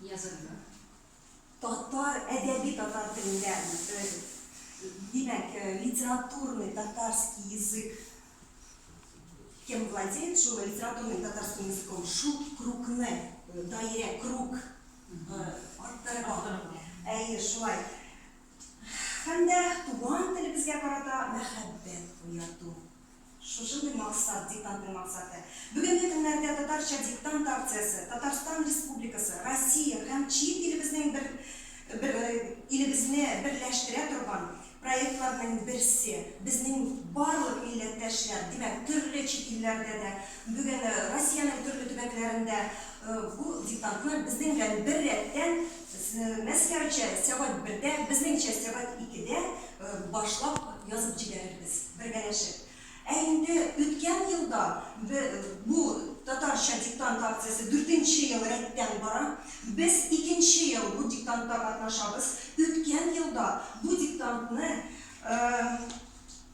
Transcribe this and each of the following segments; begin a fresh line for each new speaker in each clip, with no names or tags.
язарга. Татар
әдәби татар телендә, димәк, литературный татарский язык кем владеет, шул литературным татарским языком, шул крукны, даирә, крук арттырырга. Әйе, шулай. Һәм дә туган телебезгә карата мәхәббәт уяту. Шушындый максат, диктантның максаты. Бүгенге көннәрдә Татарча диктант акциясе Татарстан Республикасы, Россия һәм чит илебезнең бер бер илебезне берләштерә торган проектларның берсе. Безнең барлык милләттәшләр, димәк, төрле чит илләрдә дә, бүген Россиянең төрле төбәкләрендә бу диктантны безнең белән беррәттән Мәскәүчә сәгать бердә, безнеңчә сәгать икедә башлап язып җибәрербез, бергәләшеп. Ә инде үткән елда бу татарча диктант акциясе дүртенче ел рәттән бара. Без икенче ел бу диктантта катнашабыз. Үткән елда бу диктантны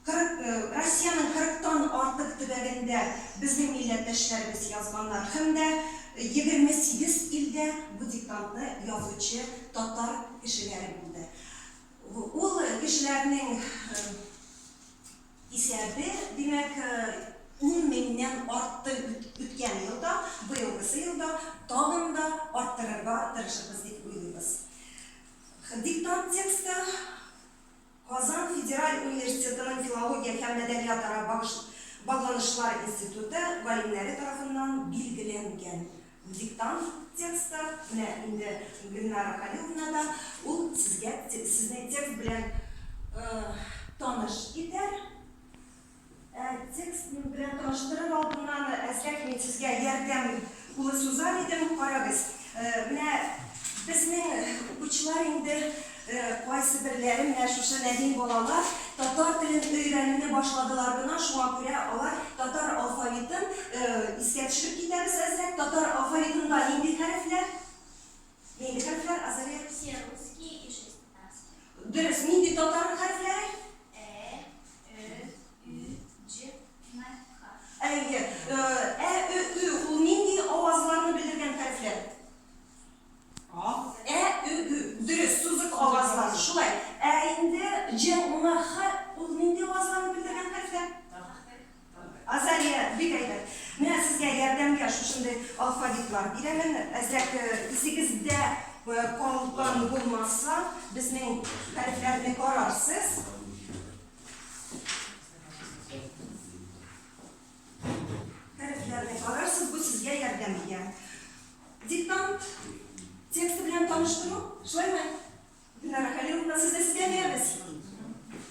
Кырык, Россиянең кырыктан артык төбәгендә безнең милләттәшләребез язганнар хем дә егерме сигез илдә бу диктантны язучы татар кешеләре булды. Ул кешеләрнең исәбе, димәк, ун меңнән артты үткән елда, быелгысы елда тагын да арттырырга тырышырбыз дип уйлыйбыз. Диктант тексты Казан федераль университетының филология һәм мәдәниятара багланышлар институты галимнәре тарафыннан билгеләнгән диктант тексты, менә инде Гөлнара Хәлиловна да ул сезгә сезне текст белән таныш итәр. Ә текст белән таныштырыр алдыннан, әзрәк мин сезгә ярдәм кулы сузар идем. Карагыз, менә безнең укучылар инде кайсыберләре, менә шушы нәзин балалар татар телен өйрәнүне башладылар гына, шуңа күрә алар татар алфавитын искә төшереп китәбез әзрәк. Татар алфавитында нинди хәрефләр? Нинди хәрефләр, Азалия? Все русские и
шестнадцать. Дөрес, нинди татар
хәрефләре? Э, ө, ю, дж, на, ха. Әйе, э, ә, ө, ө, ул нинди авазларны белдергән хәрефләр? А, ә, ө, ө. Дөрес, сузык авазлар. Шулай. Ә инде дж, на, ха, ул нинди авазларны белдергән хәрефләр? Азалия, бик әйбәт. Менә сезгә ярдәмгә шушындый алфавитлар бирәмен. Әзрәк исегездә калган булмаса, безнең хәрефләрне карарсыз. Хәрефләрне карарсыз, бу сезгә ярдәмгә. Диктант тексты белән таныштыру, шулаймы? Динара Хәлиловна, сүзне сезгә бирәбез.